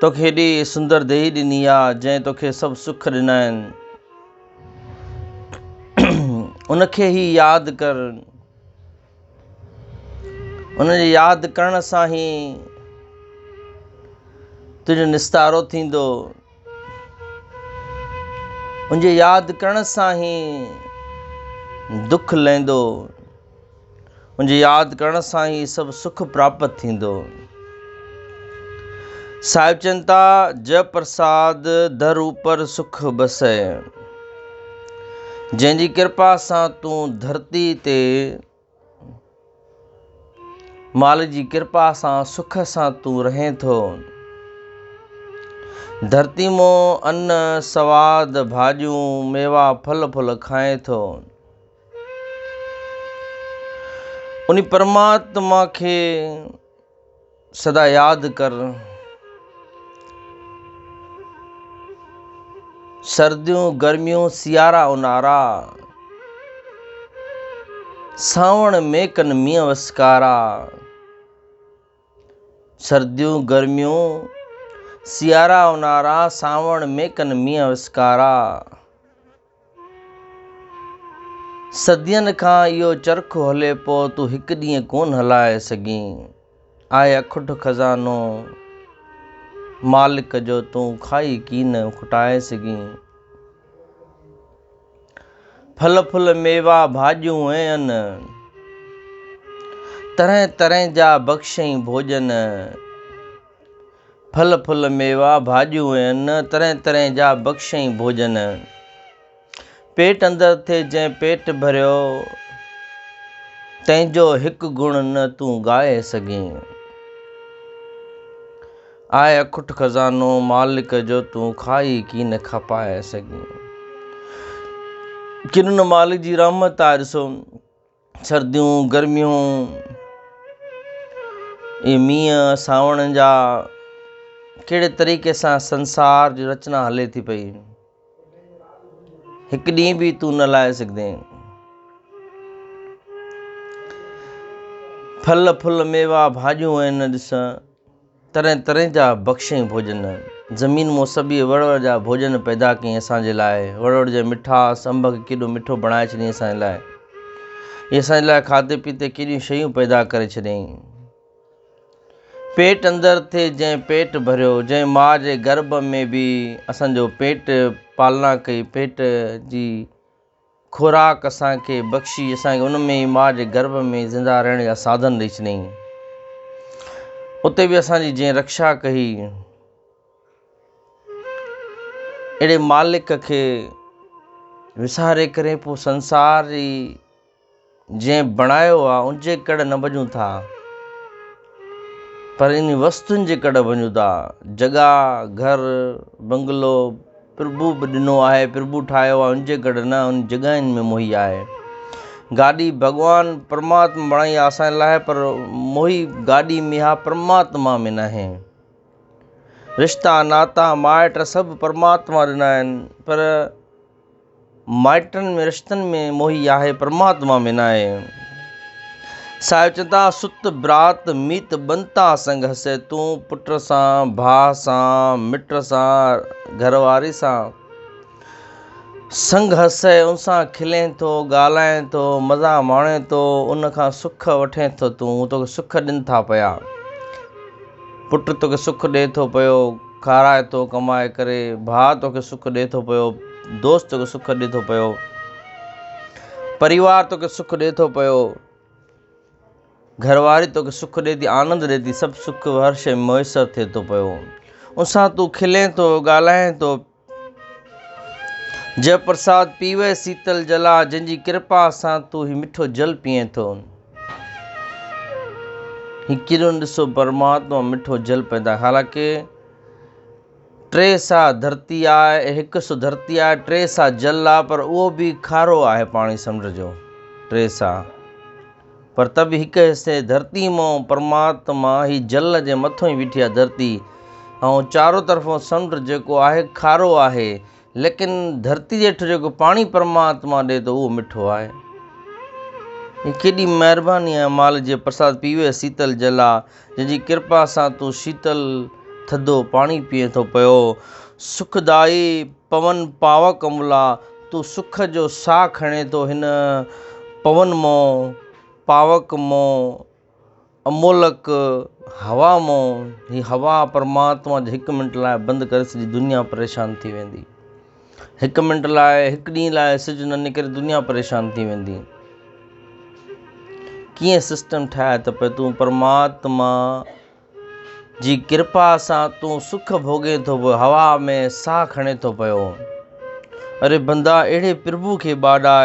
توکي هيڏي سندر ديهي ڏني آ، جنهن توکي سڀ سک ڏنا آهن. ان کي هي ياد ڪر. ان جي ياد ڪرڻ سان هي تنهنجو نستارو ٿيندو. ان جي ياد ڪرڻ سان هي دک لهندو. ان جي ياد ڪرڻ سان ئي سڀ سک پراپت ٿيندو. صاحب چين ٿا، جئه پرساد در اوپر سک بسئه. جنهن جي ڪرپا سان تون ڌرتي تي مالڪ جي ڪرپا سان سک سان تون رهين ٿو. ڌرتي مون ان سواد ڀاڄيون ميوا ڦل ڦل کائين ٿو. ان پرماتما کي سدا ياد ڪر. سرديون گرميون سيارا اونهارا، سانوڻ ميڪن مينهن وسڪارا. سرديون گرميون سيارا اونهارا، سانوڻ ميڪن مينهن وسڪارا. صدين کان اهو چرخ هلي پو تون هڪ ڏينهن ڪون هلائي سگهين آء اکٽ خزانو مالڪ جو تون کائي ڪين کٽائي سگهين ڦل ڦل ميوا ڀاڄيون ۽ ان طرح طرح جا بخشئين ڀوڄن ڦل ڦل ميوا ڀاڄيون ائين، طرحين طرحين جا بخشئين ڀوڄن. پيٽ اندر ٿئي جنهن پيٽ ڀريو، تنهن جو هڪ گڻ نه تون ڳائي سگهين. آء اکٽ خزانو مالڪ جو تون کائي ڪين کپائي سگهين. ڪن ان مالڪ جي رحمت آهي ڏسو. سرديون، گرميون، اهي مينهن، سانوڻ جا ڪهڙي طريقي سان سنسار جي رچنا هلي ٿي پئي، هڪ ڏينهن به تون نه لائي سگهندين. ڦل ڦل ميوا ڀاڄيون آهن ڏس. طرح طرح جا بخشيئي ڀوڄن. زمين مون سبي وڙ وڙ جا ڀوڄن پيدا ڪيئي اسان جي لاء. وڙ وڙ جي مٺاس انب کي ڪيڏو مٺو بڻائي ڇڏيئي اسان جي لاء. هي اسان جي لاء کاڌي پيتي ڪيڏيون شيون پيدا ڪري ڇڏيئي. پيٽ اندر ٿي جنهن پيٽ ڀريو. جنهن ماء جي گرڀ ۾ به اسان جو پيٽ پالنا ڪئي پيٽ جي خوراڪ اسان کي بخشي اسان کي ان ۾ ماء جي گرڀ ۾ زنده رهڻ جا ساڌن ڏئي ڇڏيائين. اتي به اسان جي جنهن رڪشا ڪئي اهڙي مالڪ کي وساري ڪري پوء سنسار جي جنهن بڻايو آ ان جي ڪڙهه نه ڀڄون ٿا پر انهي وستون جي ڪڙهه ڀڃون ٿا. جڳهه، گهر، بنگلو، پرڀو به ڏنو آهي، پرڀو ٺاهيو آ ان جي ڪڙهه نه، انهي جڳهين ۾ موهي آهي. گاڏي ڀڳوان پرماتم بڻائي آ اسان لاء پر موهي گاڏي ۾ آ پرماتما ۾ ناهي. رشتا، ناتا، مائٽ سڀ پرماتما ڏنا آهن پر. مائٽن ۾ رشتن ۾ موهي آهي پرماتما ۾ ناهي صاحب چون ٿا سوت برات ميت ٻنتا سنگ هسي تون پٽ سان ڀاء سان مٽ سان گهر واري سان سنگ هسي ان سان کلين ٿو ڳالهائين ٿو مزا ماڻين ٿو ان کان سک وٺين ٿو تون توکي سک ڏين ٿا پيا پٽ توکي سک ڏي ٿو پيو کارائي ٿو ڪمائي ڪري، ڀاء توکي سک ڏئي ٿو پيو، دوست توکي سک ڏئي ٿو پيو، پريوار توکي سک ڏئي ٿو پيو، گهرواري توکي سک ڏئي ٿي، آنند ڏئي ٿي، سڀ سک هر شيء ۾ ميسر ٿئي ٿو پيو. ان سان تون کلين ٿو، ڳالهائين ٿو. جئه پرساد پيوي سيتل جلا، جنهن جي ڪرپا سان تون هي مٺو جل پيئين ٿو. هڪيرن ڏسو پرماتما مٺو جل پيدا حالانڪه ٽي سا ڌرتي آ هڪ سو ڌرتي آ ٽي سا جل آ پر اهو به کارو آهي پاڻي سمنڊ جو ٽي سا پر ته به هڪ حصي ڌرتي مون پرماتما هي جل جي مٿو هي ويٺي آ ڌرتي ۽ چارو طرفون سمنڊ جيڪو آهي کارو آهي ليڪن ڌرتي هيٺ جيڪو پاڻي پرماتما ڏي ٿو اهو مٺو آهي. هي ڪيڏي مهرباني آهي مال جي پرساد پيوي سيتل جلا جنهن جي ڪرپا سان تون شيتل ٿڌو پاڻي پيئين ٿو پيو سک دائي پون پاوڪ املا تون سک جو ساهه کڻين ٿو هن پون مون پاوڪ مون امولڪ، هوا مون، هي هوا پرماتما جي هڪ منٽ لاء بند ڪري سڄي دنيا پريشان ٿي ويندي. هڪ منٽ لاء، هڪ ڏينهن لاء سج نه نڪري دنيا پريشان ٿي ويندي. ڪيئن سسٽم ٺاهي ته پئي تون پرماتما جي ڪرپا سان تون سک ڀوڳين ٿو پيو هوا ۾ ساهه کڻي ٿو پيو. اري بندا اهڙي پرڀو کي ٻاڏاء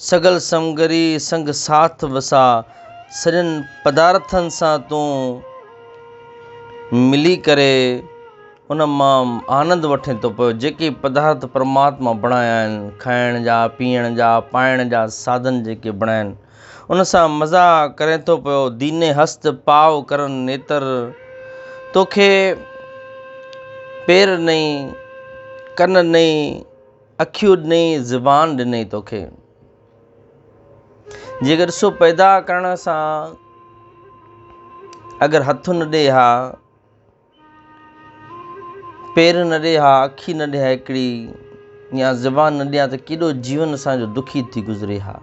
سگل سمگري سنگ ساٿ وساء، سڄن پدارٿن سان تون ملي ڪري ان مان آنند وٺين ٿو پيو، جيڪي پدارٿ پرماتما بڻايا آهن، کائڻ جا، پيئڻ جا، پائڻ جا ساڌن جيڪي بڻايا آهن، ان سان مزا ڪرين ٿو پيو، ديني هست پاء ڪرن نيتر، توکي پير نئي، ڪن نئي. اکيون ڏنئي زبان ڏنئي توکي. جيڪر سو پيدا ڪرڻ سان اگر هٿ نه ڏي ها پير نه ڏي ها اکي نه ڏي ها هڪڙي يا زبان نه ڏي ها ته ڪيڏو جيون اسان جو دکي ٿي گذري ها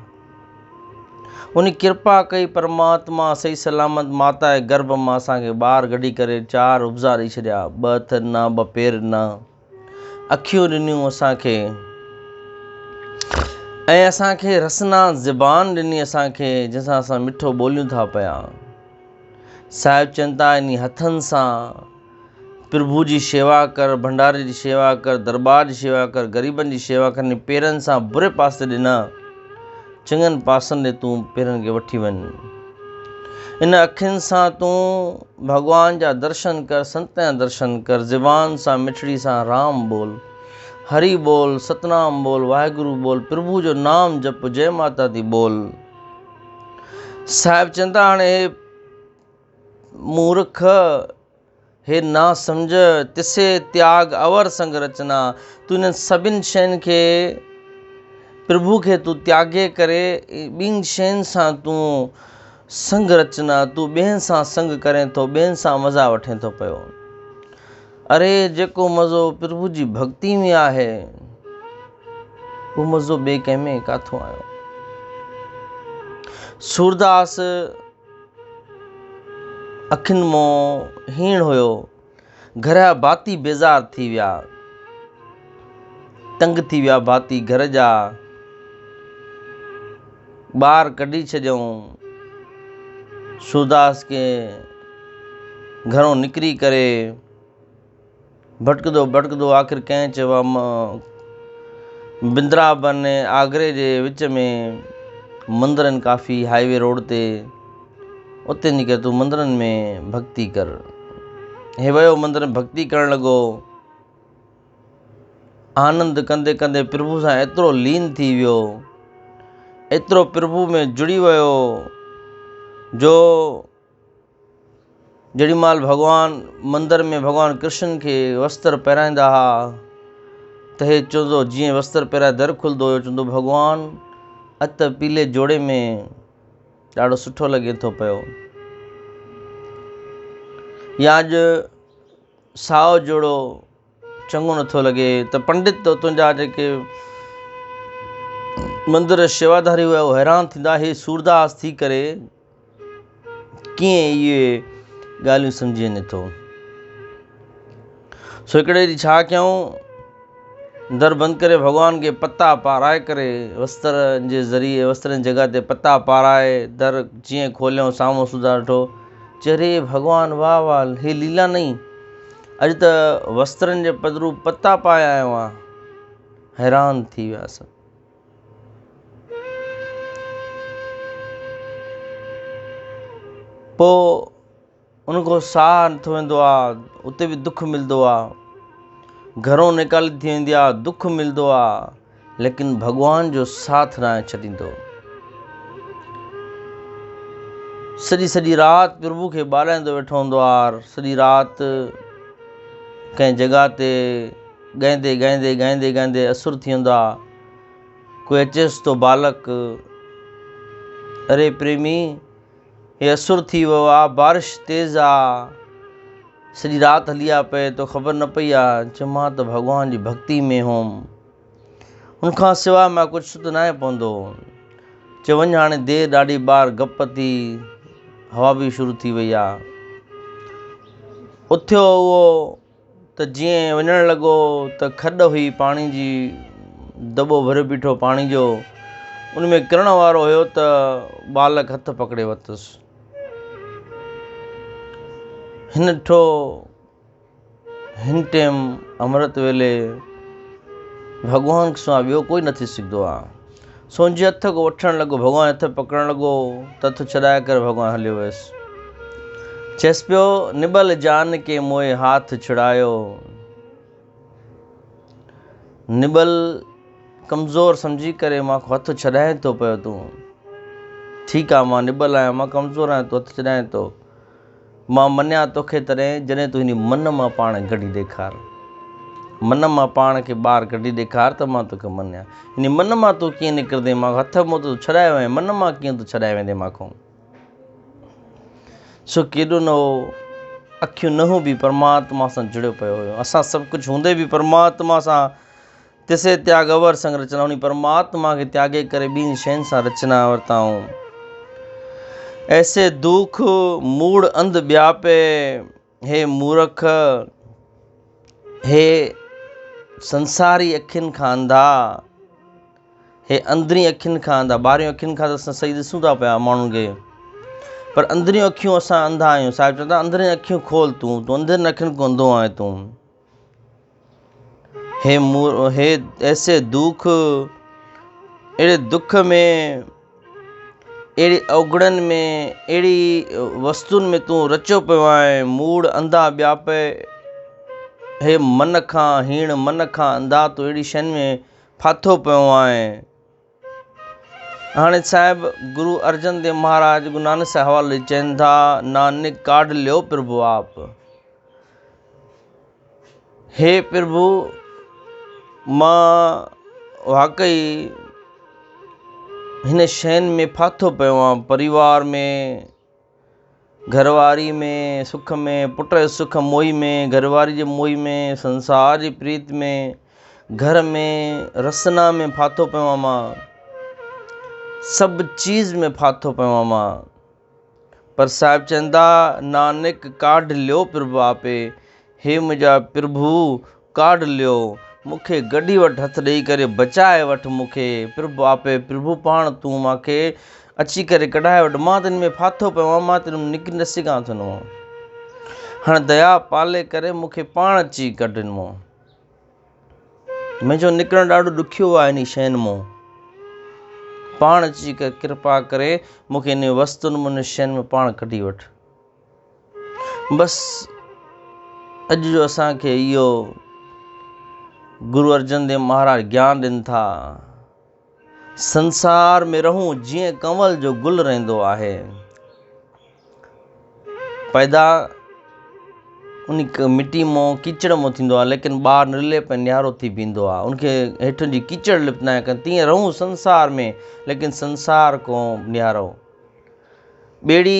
ان ڪرپا ڪئي پرماتما صحيح سلامت ماتا جي گرڀ مان اسان کي ٻار گڏي ڪري چار ابزا ڏئي ڇڏيا ٻه هٿ نه ٻه پير نه اکيون ڏنيون اسان کي ۽ اسان کي رسنا زبان ڏني اسان کي جنهن سان اسان مٺو ٻوليون ٿا پيا صاحب چون ٿا انهي هٿن سان پرڀو جي شيوا ڪر ڀنڊاري جي شيوا ڪر درٻار جي شيوا ڪر غريبن جي شيوا ڪر انهن پيرن سان بري پاسي ڏنا چڱن پاسن ڏي تون پيرن کي وٺي وڃ. ان اکين سان تون ڀڳوان جا درشن ڪر، سنتن جا درشن ڪر، زبان سان مٺڙي سان رام ٻول، هري ٻول، ستنام ٻول، واحگرو ٻول، پرڀو جو نام جپ، جئه ماتا دي ٻول. صاحب چون ٿا هاڻي هي مورک. هي ناسمجهه تسي تياڳ اور سنگ رچنا. تون انهن سڀن شين کي پرڀو کي تون تياڳي ڪري ٻين شين سان تون سنگ رچنا تون ٻين سان سنگ ڪرين ٿو ٻين سان مزا وٺين ٿو پيو. اري جيڪو مزو پرڀو جي ڀڳتي ۾ آهي اهو مزو ٻي ڪنهن ۾ ڪاٿو آيو. سورداس اکين مان هيڻ هيو. گهر جا ڀاتي بيزار ٿي ويا. تنگ ٿي ويا ڀاتي گهر جا. ٻاهر ڪڍي ڇڏيائون. سورداس کي گهرو نڪري ڪري. ڀٽڪندو ڀٽڪندو آخر ڪنهن چيو آ م بندرابن ۽ آگري جي وچ ۾ مندرن ڪافي هائي وي روڊ تي اتي نڪر ته تون مندرن ۾ ڀڳتي ڪر هي ويو مندرن ڀڳتي ڪرڻ لڳو آنند ڪندي ڪندي پرڀو سان ايترو لين ٿي ويو ايترو پرڀو ۾ جڙي ويو جو جيڏي مھل ڀڳوان مندر ۾ ڀڳوان ڪرشن کي وستر پهرائيندا ھئا ته ھي چوندو جيئن وستر پهرائي در کلندو ھيو چوندو ڀڳوان اڄ ته پيلي جوڙي ۾ ڏاڍو سٺو لڳين ٿو پيو يا اڄ سائو جوڙو چڱو نٿو لڳي ته پنڊت تنهنجا جيڪي مندر شيواداري هئا اهي حيران ٿيندا اهي سورداس ٿي ڪري ڪيئن اهي ڳالهيون سمجهي نٿو. سو هڪڙي ڏينهن ڇا ڪيائون، در بند ڪري ڀڳوان کي پتا پارائي ڪري وستر جي ذريعي وستر جي جڳهه تي پتا پارائي در جيئن کوليائون سامهون سڌا ڏٺو چي ري ڀڳوان واهه واهه هي ليلا نئي اڄ ته وسترن جي پڌرو پتا پائي آيو آهيان حيران ٿي ويا سڀ. پوء ان کان ساهه نٿو ويندو آ اتي به دک ملندو آ گهرون نيڪالي ٿي ويندي آ دک ملندو آ ليڪن ڀڳوان جو ساٿ ناهي ڇڏيندو سڄي سڄي رات پرڀو کي ٻارائيندو ويٺو هوندو آ سڄي رات ڪنهن جڳهه تي ڳائيندي ڳائيندي ڳائيندي ڳائيندي اسر ٿي ويندا ڪوئي اچيس ٿو بالڪ اري پريمي هي اسر ٿي ويو آ بارش تيز آ سڄي رات هلي آ پئي تو خبر نه پئي آ چيم مان ته ڀڳوان جي ڀڳتي ۾ هوم ان کان سواء مان ڪجهه سڌ نه آهي پوندو چيم وڃ هاڻي دير ڏاڍي ٻاهر گپ ٿي هوا به شروع ٿي وئي آ اٿيو اهو ته جيئن وڃڻ لڳو ته کڏ هئي پاڻي جي دٻو ڀريو بيٺو پاڻي جو ان ۾ ڪرڻ وارو هيو ته ٻالڪ هٿ پڪڙي ورتس هن ڏٺو هن ٽيم امرت ويلي ڀڳوان سواء ٻيو ڪوئي نه ٿي سگهندو آهي سونجهي هٿ ڪو وٺڻ لڳو، ڀڳوان جي هٿ پڪڙڻ لڳو ته هٿ ڇڏائي ڪري ڀڳوان هليو ويس. چيس پيو، نبل جان ڪي موئي هاٿ ڇڙايو. نبل ڪمزور سمجهي ڪري مان کان هٿ ڇڏائين ٿو پيو تون. ٺيڪ آ مان نبل آهيان، مان ڪمزور آهيان تون هٿ ڇڏائين ٿو. مان منيان توکي تڏهن جڏهن تون هن من مان پاڻ ڪڍي ڏيکار من مان پاڻ کي ٻاهر ڪڍي ڏيکار ته مان توکي منيان هن من مان تون ڪيئن نڪرندين مان هٿ منهن تون ڇڏائي وئين من مان ڪيئن تون ڇڏائي ويندين مان کون سو ڪيڏو نه هو اکيون نه هون به پرماتما سان جڙيو پيو هيو اسان سڀ ڪجهه هوندي به پرماتما سان تسي تياڳ اور سنگ رچنا انهي پرماتما کي تياڳي ڪري ٻين شين سان رچنا ورتائون. ايسي دوک موڙ انڌ ٻياپي هي مورک هي سنساري اکين کان انڌا هي اندرين اکين کان انڌا ٻاهرين اکين کان ته اسان صحيح ڏسون ٿا پيا ماڻهن کي پر اندرين اکيون اسان انڌا آهيون صاحب چوندو اندرين اکيون کول تون تون اندرين اکين کان انڌو آهين تون. هي مور هي ايسي دوک اهڙي دک ۾ اهڙي اوگڙن ۾ اهڙي وستون ۾ تون رچيو پيو آهي موڙ انڌا ٻيا پئي هي من کان هيڻ من کان انڌا تون اهڙي شين ۾ ڦاٿو پيو آهي هاڻي صاحب گرو ارجن ديو مهاراج گرو نانڪ سائين حوالي چين ٿا نانڪ ڪاڍ ليو پرڀو آپ هي پرڀو مان واقعي هن شين ۾ ڦاٿو پيو آهيان پريوار ۾ گهر واري ۾ سک ۾، پٽ جي سک موهي ۾، گهر واري جي موهي ۾، سنسار جي پريت ۾، گهر ۾ رسنا ۾ ڦاٿو پيو آهيان مان، سڀ چيز ۾ ڦاٿو پيو آهيان مان، پر صاحب چئن ٿا، نانڪ ڪاڍ ليو پرڀ آپي، هي منهنجا پرڀو! ڪاڍ ليو، مون کي گڏي وٺ هٿ ڏيئي ڪري بچائي وٺ مون کي، پرڀ آپي، پرڀو پاڻ تون مان کي اچي ڪري ڪڍائي وٺ، مان تنهن ۾ ڦاٿو پيو آهيان، مان تنهن مان نڪري نه سگهان ٿو هن مان، هاڻ ديا پالي ڪري مون کي پاڻ اچي ڪڍ هن مان، منهنجو نڪرڻ ڏاڍو ڏکيو آهي انهي شين مان، پاڻ اچي ڪري ڪرپا ڪري مون کي انهي وستون مان انهي شين مان پاڻ ڪڍي وٺ. بس اڄ جو اسان کي اهو گرو ارجن ديو مهاراج گيان ڏين ٿا، سنسار ۾ رهون جيئن ڪنول جو گل رهندو آهي. پيدا ان مٽي مون ڪيچڙ مون ٿيندو آهي ليڪن ٻار نرلي پئي نيارو ٿي بيهندو آهي ان کي هيٺ جي ڪيچڙ لپنا آهن تيئن رهون سنسار ۾ ليڪن سنسار ڪو نيارو ٻيڙي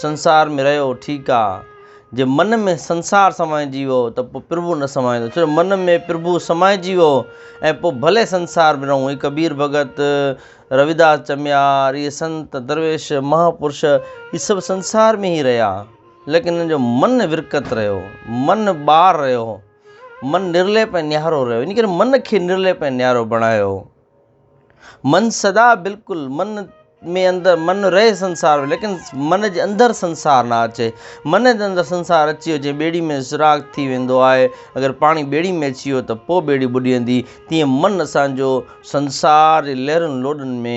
سنسار ۾ رهيو ٺيڪ آ. جي من ۾ سنسار سمائجي ويو ته پوء پرڀو نه سمائيندو ڇو جو من ۾ پرڀو سمائجي ويو ۽ پوء ڀلي سنسار ۾ رهون هي ڪبير ڀڳت، رويداس چميار، اهي سنت، درويش، مها پرش اهي سڀ سنسار ۾ ئي رهيا ليڪن انهن جو من ورڪت رهيو، من ٻار رهيو، من نرليپ ۽ نيارو رهيو ان ڪري من کي نرليپ ۽ نيارو بڻايو. من سدا بلڪل من ۾ اندر من رهي سنسار ۾ ليڪن من جي اندر سنسار نه اچي من جي اندر سنسار اچي ويو جي ٻيڙي ۾ سراغ ٿي ويندو آهي اگر پاڻي ٻيڙي ۾ اچي ويو ته پوء ٻيڙي ٻڏيندي تيئن من اسانجو سنسار جي لهرن لوڏن ۾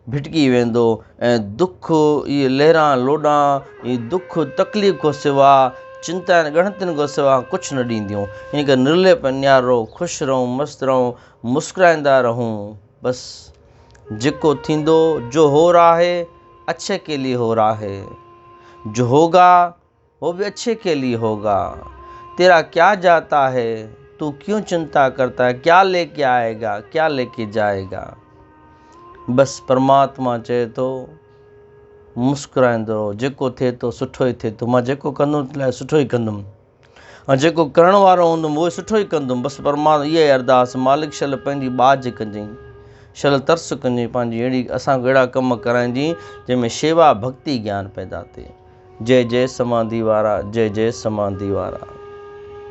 ڀٽڪي ويندو ۽ دک اهي لهران لوڏان اهي دک تڪليف کان سوا چنتا ۽ ڳڻتين کان سوا ڪجهه نه ڏينديون ان ڪري نرليپ نيارو خوش رهون مست رهون مسڪرائيندا رهون بس جيڪو ٿيندو جو هو رها هي اڇي ڪي لي هو رها هي جو هوگا هو به اڇي ڪي لي هوگا تيرا ڪيا جاتا هي تون ڪيون چنتا ڪرتا هي ڪيا لي ڪي آئي گا ڪيا لي ڪي جائي گا بس پرماتما چئي ٿو مسڪرائيندو رهو جيڪو ٿئي ٿو سٺو ئي ٿئي ٿو مان جيڪو ڪندم تنهنجي لاء سٺو ئي ڪندم ۽ جيڪو ڪرڻ وارو هوندم اهو سٺو ئي ڪندم بس پر مان اها ئي ارداس مالڪ شل پنهنجي ٻاجهه ڪجئين شل ترس ڪجئين پنهنجي اهڙي اسان کان اهڙا ڪم ڪرائجئين جنهن ۾ شيوا ڀڳتي گيان پيدا ٿئي جئي جئي سمانڌي وارا جئي جئي سمانڌي وارا.